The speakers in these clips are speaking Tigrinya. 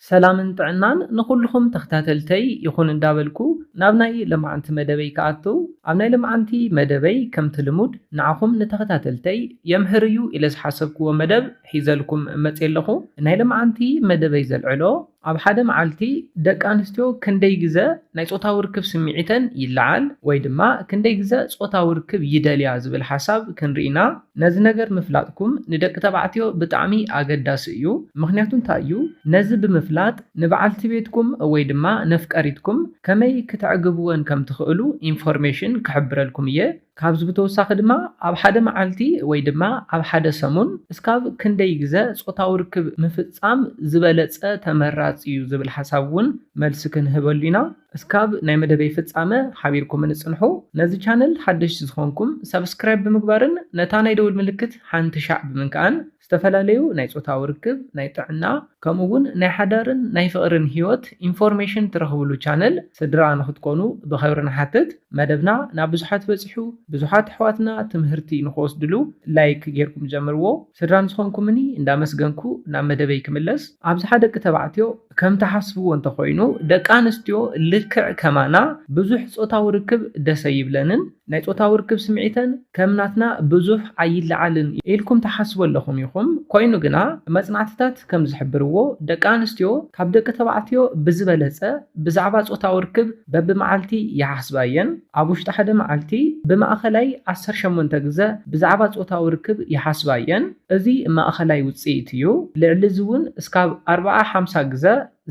ሰላምን ጥዕናን ንኹሉኹም ተኽታተልተይ ይኹን እንዳበልኩ ናብ ናይ ለማዓንቲ መደበይ ክኣቱ ኣብ ናይ ለማዓንቲ መደበይ ከምቲ ልሙድ ንዓኹም ንተኽታተልተይ የምህር እዩ ኢለ ዝሓሰብክዎ መደብ ሒዘልኩም መጽየ ኣለኹ ናይ ለማዓንቲ መደበይ ዘልዕሎ ኣብ ሓደ ማዓልቲ ደቂ ኣንስትዮ ክንደይ ግዘ ናይ ጾታዊ ርክብ ስሚዒተን ይላዓል ወይ ድማ ክንደይ ግዘ ጾታዊ ርክብ ይደልያ ዝብል ሓሳብ ክንሪኢ ኢና። ነዚ ነገር ምፍላጥኩም ንደቂ ተባዕትዮ ብጣዕሚ ኣገዳሲ እዩ ምኽንያቱ እንታይ እዩ ነዚ ብምፍላጥ ንበዓልቲ ቤትኩም ወይ ድማ ነፍቀሪትኩም ከመይ ክተዕግብወን ከም ትኽእሉ ኢንፎርሜሽን ክሕብረልኩም እየ ካብዚ ብተወሳኺ ድማ ኣብ ሓደ መዓልቲ ወይ ድማ ኣብ ሓደ ሰሙን እስካብ ክንደይ ግዘ ፆታዊ ርክብ ምፍፃም ዝበለፀ ተመራፂ እዩ ዝብል ሓሳብ እውን መልሲ ክንህበሉ ኢና። እስካብ ናይ መደበይ ፍጻመ ሓቢርኩምኒ ጽንሑ። ነዚ ቻነል ሓደሽቲ ዝኾንኩም ሳብስክራይብ ብምግባርን ነታ ናይ ደውል ምልክት ሓንቲ ሻዕ ብምንካእን ዝተፈላለዩ ናይ ጾታዊ ርክብ፣ ናይ ጥዕና፣ ከምኡ ውን ናይ ሓዳርን ናይ ፍቅርን ሂወት ኢንፎርሜሽን ትረኽብሉ ቻነል ስድራ ንኽትኮኑ ብኸብሪ ንሓትት። መደብና ናብ ብዙሓት በጺሑ ብዙሓት ኣሕዋትና ትምህርቲ ንኽወስድሉ ላይክ ጌርኩም ጀምርዎ። ስድራ ንዝኾንኩምኒ እንዳመስገንኩ ናብ መደበይ ክምለስ። ኣብዝሓ ደቂ ተባዕትዮ ከም ትሓስብዎ እንተኾይኑ ደቂ ኣንስትዮ ልክዕ ከማና ብዙሕ ጾታዊ ርክብ ደስ ኣይብለንን፣ ናይ ጾታዊ ርክብ ስምዒተን ከም ናትና ብዙሕ ኣይለዓልን ኢልኩም ትሓስቡ ኣለኹም ኢኹም፣ ኮይኑ ግና መጽናዕትታት ከም ዝሕብርዎ ደቂ ኣንስትዮ ካብ ደቂ ተባዕትዮ ብዝበለጸ ብዛዕባ ጾታዊ ርክብ በብመዓልቲ ይሓስባ እየን። ኣብ ውሽጢ ሓደ መዓልቲ ብማእኸላይ ዓሰርተ ሸሞንተ ግዘ ብዛዕባ ፆታዊ ርክብ ይሓስባ እየን። እዚ ማእኸላይ ውፅኢት እዩ። ልዕሊ እዚ እውን እስካብ ኣርብዓ ሓምሳ ግዘ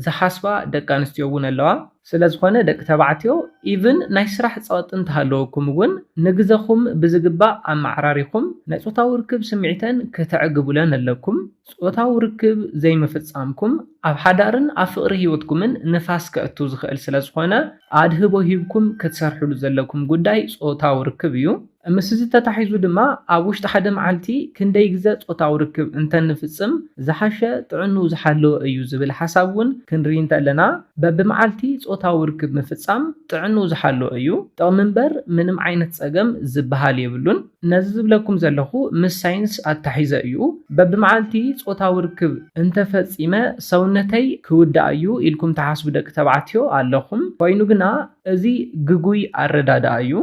ዝሓስባ ደቂ ኣንስትዮ እውን ኣለዋ። ስለዝኾነ ደቂ ተባዕትዮ ኢቭን ናይ ስራሕ ፀቕጢ እንተሃለወኩም እውን ንግዘኹም ብዝግባእ ኣመዓራሪኹም ናይ ፆታዊ ርክብ ስምዒተን ክተዕግቡለን ኣለኩም። ጾታዊ ርክብ ዘይምፍጻምኩም ኣብ ሓዳርን ኣብ ፍቕሪ ህይወትኩምን ንፋስ ከእቱ ዝኽእል ስለ ዝኾነ፣ ኣድህቦ ሂብኩም ክትሰርሕሉ ዘለኩም ጉዳይ ጾታዊ ርክብ እዩ። ምስዚ ተታሒዙ ድማ ኣብ ውሽጢ ሓደ መዓልቲ ክንደይ ግዘ ጾታዊ ርክብ እንተንፍጽም ዝሓሸ ጥዕንኡ ዝሓለወ እዩ ዝብል ሓሳብ እውን ክንርኢ እንተለና በብመዓልቲ ጾታዊ ርክብ ምፍጻም ጥዕንኡ ዝሓለወ እዩ። ጥቕሚ እምበር ምንም ዓይነት ጸገም ዝበሃል የብሉን። ነዚ ዝብለኩም ዘለኹ ምስ ሳይንስ ኣታሒዘ እዩ። በብመዓልቲ ጾታዊ ርክብ እንተ ፈጺመ ሰውነተይ ክውዳእ እዩ ኢልኩም ትሓስቡ ደቂ ተባዕትዮ ኣለኹም። ኮይኑ ግና እዚ ግጉይ ኣረዳድኣ እዩ።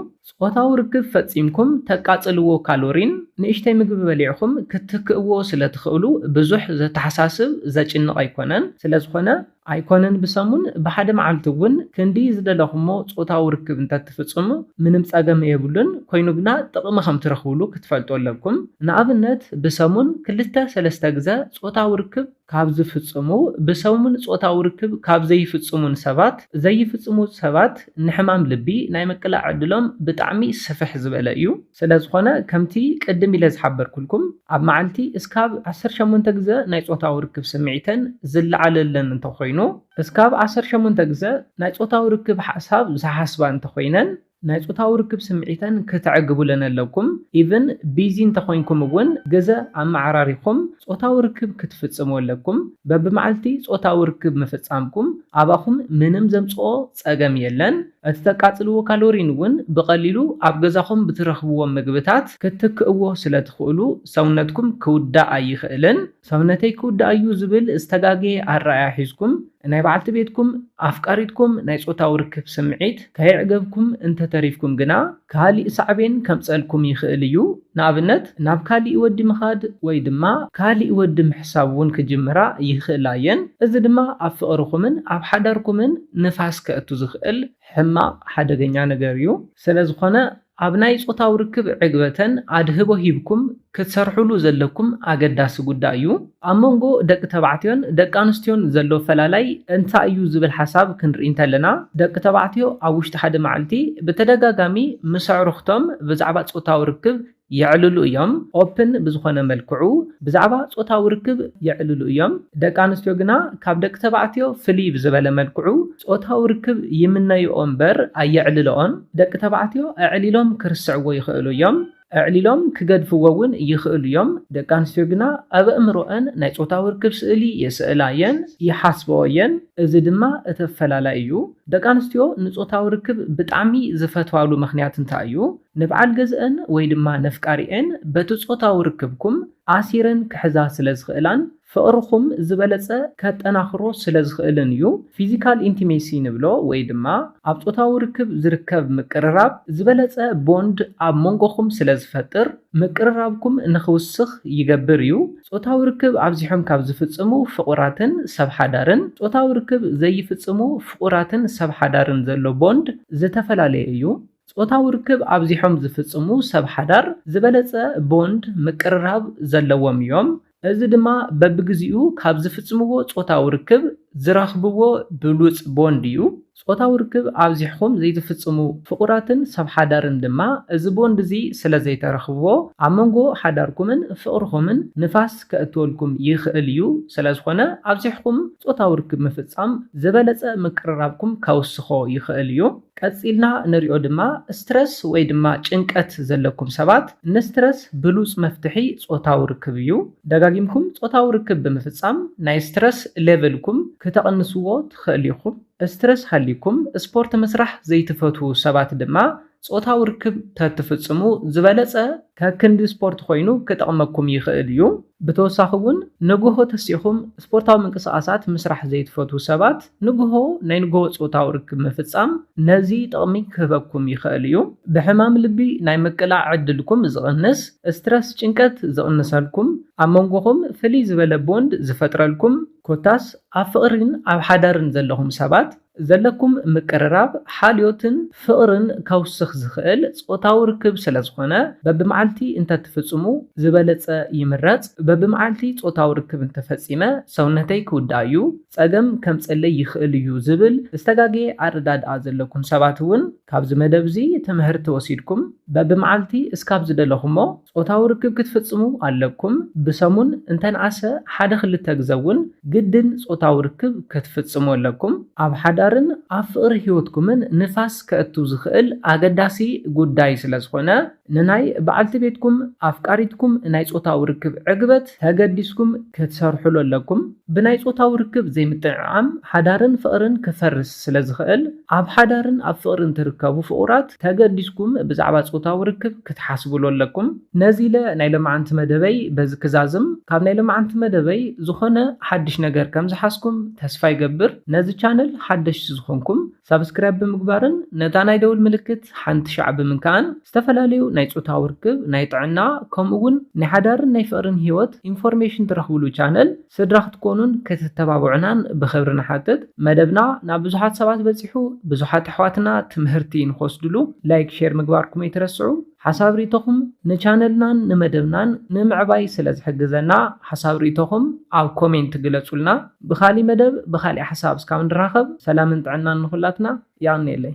ጾታዊ ርክብ ፈጺምኩም ተቃጽልዎ ካሎሪን ንእሽተይ ምግቢ በሊዕኹም ክትክእዎ ስለ ትኽእሉ ብዙሕ ዘተሓሳስብ ዘጭንቕ ኣይኮነን። ስለ ዝኾነ ኣይኮነን ብሰሙን ብሓደ መዓልቲ እውን ክንዲ ዝደለኹሞ ጾታዊ ርክብ እንተትፍጽሙ ምንም ጸገም የብሉን ኮይኑ ግና ጥቕሚ ከም ትረኽብሉ ክትፈልጡ ኣለኩም ንኣብነት ብሰሙን ክልተ ሰለስተ ግዘ ጾታዊ ርክብ ካብ ዝፍጽሙ ብሰሙን ጾታዊ ርክብ ካብ ዘይፍጽሙን ሰባት ዘይፍጽሙ ሰባት ንሕማም ልቢ ናይ ምቅላዕ ዕድሎም ብጣዕሚ ስፍሕ ዝበለ እዩ። ስለ ዝኾነ ከምቲ ቅድም ኢለ ዝሓበርኩልኩም ኣብ መዓልቲ እስካብ ዓሰርተ ሸሞንተ ግዘ ናይ ፆታዊ ርክብ ስምዒተን ዝለዓለለን እንተኾይኑ እስካብ ዓሰርተ ሸሞንተ ግዘ ናይ ፆታዊ ርክብ ሓሳብ ዝሓስባ እንተኾይነን ናይ ፆታዊ ርክብ ስምዒተን ክተዕግቡለን ኣለኩም ኢቭን ቢዚ እንተኾይንኩም እውን ግዘ ኣመዓራሪኹም ፆታዊ ርክብ ክትፍፅሙ ኣለኩም በብመዓልቲ ፆታዊ ርክብ ምፍፃምኩም ኣባኹም ምንም ዘምፅኦ ፀገም የለን እቲ ተቃጽልዎ ካሎሪን እውን ብቐሊሉ ኣብ ገዛኹም ብትረኽብዎም ምግብታት ክትትክእዎ ስለትኽእሉ ሰውነትኩም ክውዳእ ኣይኽእልን። ሰውነተይ ክውዳእ እዩ ዝብል ዝተጋገየ ኣረኣእያ ሒዝኩም ናይ በዓልቲ ቤትኩም፣ ኣፍቃሪትኩም ናይ ጾታዊ ርክብ ስምዒት ከየዕገብኩም እንተተሪፍኩም ግና ካሊእ ሳዕቤን ከምጸልኩም ይኽእል እዩ። ንኣብነት ናብ ካሊእ ወዲ ምኻድ ወይ ድማ ካሊእ ወዲ ምሕሳብ እውን ክጅምራ ይኽእላ እየን። እዚ ድማ ኣብ ፍቕርኹምን ኣብ ሓዳርኩምን ንፋስ ከእቱ ዝኽእል ሕማቕ ሓደገኛ ነገር እዩ። ስለዝኾነ ኣብ ናይ ፆታዊ ርክብ ዕግበተን ኣድህቦ ሂብኩም ክትሰርሕሉ ዘለኩም ኣገዳሲ ጉዳይ እዩ። ኣብ መንጎ ደቂ ተባዕትዮን ደቂ ኣንስትዮን ዘሎ ኣፈላላይ እንታይ እዩ ዝብል ሓሳብ ክንርኢ እንተለና፣ ደቂ ተባዕትዮ ኣብ ውሽጢ ሓደ መዓልቲ ብተደጋጋሚ ምስ ኣዕሩኽቶም ብዛዕባ ጾታዊ ርክብ የዕልሉ እዮም፣ Open፣ ብዝኾነ መልክዑ ብዛዕባ ጾታዊ ርክብ የዕልሉ እዮም። ደቂ ኣንስትዮ ግና ካብ ደቂ ተባዕትዮ ፍልይ ብዝበለ መልክዑ ጾታዊ ርክብ ይምነይኦ እምበር ኣየዕልለኦን። ደቂ ተባዕትዮ ኣዕሊሎም ክርስዕዎ ይኽእሉ እዮም። ኣዕሊሎም ክገድፍዎ እውን ይኽእሉ እዮም። ደቂ ኣንስትዮ ግና ኣብ ኣእምሮኣን ናይ ጾታዊ ርክብ ስእሊ የሰእላ እየን፣ ይሓስባኦ እየን፣ እዚ ድማ እቲ ኣፈላላይ እዩ። ደቂ ኣንስትዮ ንጾታዊ ርክብ ብጣዕሚ ዝፈትዋሉ ምኽንያት እንታይ እዩ? ንብዓል ገዝኣን ወይ ድማ ነፍቃሪኤን በቲ ጾታዊ ርክብኩም ኣሲረን ክሕዛ ስለ ዝኽእላን፣ ፍቕርኹም ዝበለጸ ከጠናኽሮ ስለ ዝኽእልን እዩ። ፊዚካል ኢንቲሜሲ ንብሎ ወይ ድማ ኣብ ጾታዊ ርክብ ዝርከብ ምቅርራብ ዝበለጸ ቦንድ ኣብ ሞንጎኹም ስለ ዝፈጥር ምቅርራብኩም ንኽውስኽ ይገብር እዩ። ጾታዊ ርክብ ኣብዚሖም ካብ ዝፍጽሙ ፍቑራትን ሰብ ሓዳርን ጾታዊ ርክብ ዘይፍጽሙ ፍቑራትን ሰብ ሓዳርን ዘሎ ቦንድ ዝተፈላለየ እዩ። ጾታዊ ርክብ ኣብዚሖም ዝፍጽሙ ሰብ ሓዳር ዝበለጸ ቦንድ፣ ምቅርራብ፣ ዘለዎም እዮም። እዚ ድማ በብግዜኡ ካብ ዝፍጽምዎ ጾታዊ ርክብ ዝረኽብዎ ብሉጽ ቦንድ እዩ። ጾታዊ ርክብ ኣብዚሕኩም ዘይትፍጽሙ ፍቑራትን ሰብ ሓዳርን ድማ እዚ ቦንድ እዚ ስለዘይተረኽብዎ ኣብ መንጎ ሓዳርኩምን ፍቕርኹምን ንፋስ ከእትወልኩም ይኽእል እዩ። ስለዝኾነ ኣብዚሕኩም ጾታዊ ርክብ ምፍጻም ዝበለጸ ምቅርራብኩም ከውስኾ ይኽእል እዩ። ቀጺልና ንሪኦ ድማ ስትረስ ወይ ድማ ጭንቀት ዘለኩም ሰባት ንስትረስ ብሉጽ መፍትሒ ጾታዊ ርክብ እዩ። ደጋጊምኩም ጾታዊ ርክብ ብምፍጻም ናይ ስትረስ ሌቭልኩም ክተቕንስዎ ትኸእሉ ኢኹም። ስትረስ ሃልዩኩም ስፖርት ምስራሕ ዘይትፈትዉ ሰባት ድማ ጾታዊ ርክብ ተትፍጽሙ ዝበለጸ። ከክንዲ ስፖርት ኮይኑ ክጠቕመኩም ይኸእል እዩ። ብተወሳኺ እውን ንጎሆ ተሲእኹም ስፖርታዊ ምንቅስቓሳት ምስራሕ ዘይትፈትዉ ሰባት ንግሆ ናይ ንግሆ ጾታዊ ርክብ ምፍጻም ነዚ ጥቕሚ ክህበኩም ይኸእል እዩ። ብሕማም ልቢ ናይ ምቅላዕ ዕድልኩም ዝቕንስ፣ ስትረስ፣ ጭንቀት፣ ዝቕንሰልኩም፣ ኣብ መንጎኹም ፍልይ ዝበለ ቦንድ ዝፈጥረልኩም፣ ኮታስ ኣብ ፍቕሪን ኣብ ሓዳርን ዘለኹም ሰባት ዘለኩም ምቅርራብ ሓልዮትን ፍቕርን ከውስኽ ዝኸእል ጾታዊ ርክብ ስለዝኾነ በብመዓልቲ እንተትፍጽሙ ዝበለጸ ይምረጽ። በብመዓልቲ ጾታዊ ርክብ እንተፈጺመ ሰውነተይ ክውዳእ እዩ። ጸገም ከምጸለይ ይኽእል እዩ ዝብል ዝተጋገየ ኣረዳድኣ ዘለኩም ሰባት እውን ካብዚ መደብ እዚ ትምህርቲ ወሲድኩም በብመዓልቲ እስካብ ዝደለኹሞ ጾታዊ ርክብ ክትፍጽሙ ኣለኩም ብሰሙን እንተንኣሰ ሓደ ክልተ ግዘ እውን ግድን ጾታዊ ርክብ ክትፍጽሙ ኣለኩም። ኣብ ሓዳርን ኣብ ፍቕሪ ህይወትኩምን ንፋስ ከእቱ ዝኽእል ኣገዳሲ ጉዳይ ስለዝኾነ። ንናይ በዓልቲ ቤትኩም፣ ኣፍቃሪትኩም፣ ናይ ጾታዊ ርክብ ዕግበት ተገዲስኩም ክትሰርሑሉ ኣለኩም። ብናይ ጾታዊ ርክብ ዘይምጥዕዓም ሓዳርን ፍቕርን ክፈርስ ስለ ዝኽእል፣ ኣብ ሓዳርን ኣብ ፍቕርን ትርከቡ ፍቑራት ተገዲስኩም ብዛዕባ ጾታዊ ርክብ ክትሓስቡሉ ኣለኩም። ነዚ ኢለ ናይ ሎምዓንቲ መደበይ በዚ ክዛዝም። ካብ ናይ ሎምዓንቲ መደበይ ዝኾነ ሓድሽ ነገር ከም ዝሓዝኩም ተስፋ ይገብር። ነዚ ቻነል ሓደሽቲ ዝኾንኩም ሳብስክራይብ ብምግባርን ነታ ናይ ደውል ምልክት ሓንቲ ሻዕ ብምንካእን ዝተፈላለዩ ናይ ፆታዊ ርክብ፣ ናይ ጥዕና ከምኡ እውን ናይ ሓዳርን ናይ ፍቕርን ህይወት ኢንፎርሜሽን ትረኽብሉ ቻነል ስድራ ክትኮኑን ክትተባብዑናን ብኽብሪ ንሓትት። መደብና ናብ ብዙሓት ሰባት በፂሑ ብዙሓት ኣሕዋትና ትምህርቲ ንኽወስድሉ ላይክ ሼር ምግባርኩም ኣይትረስዑ። ሓሳብ ሪኢቶኹም ንቻነልናን ንመደብናን ንምዕባይ ስለ ዝሕግዘና ሓሳብ ሪኢቶኹም ኣብ ኮሜንት ግለጹልና ብኻሊ መደብ ብኻሊእ ሓሳብ እስካብ ንራኸብ ሰላምን ጥዕናን ንኹላትና የቐንየለይ።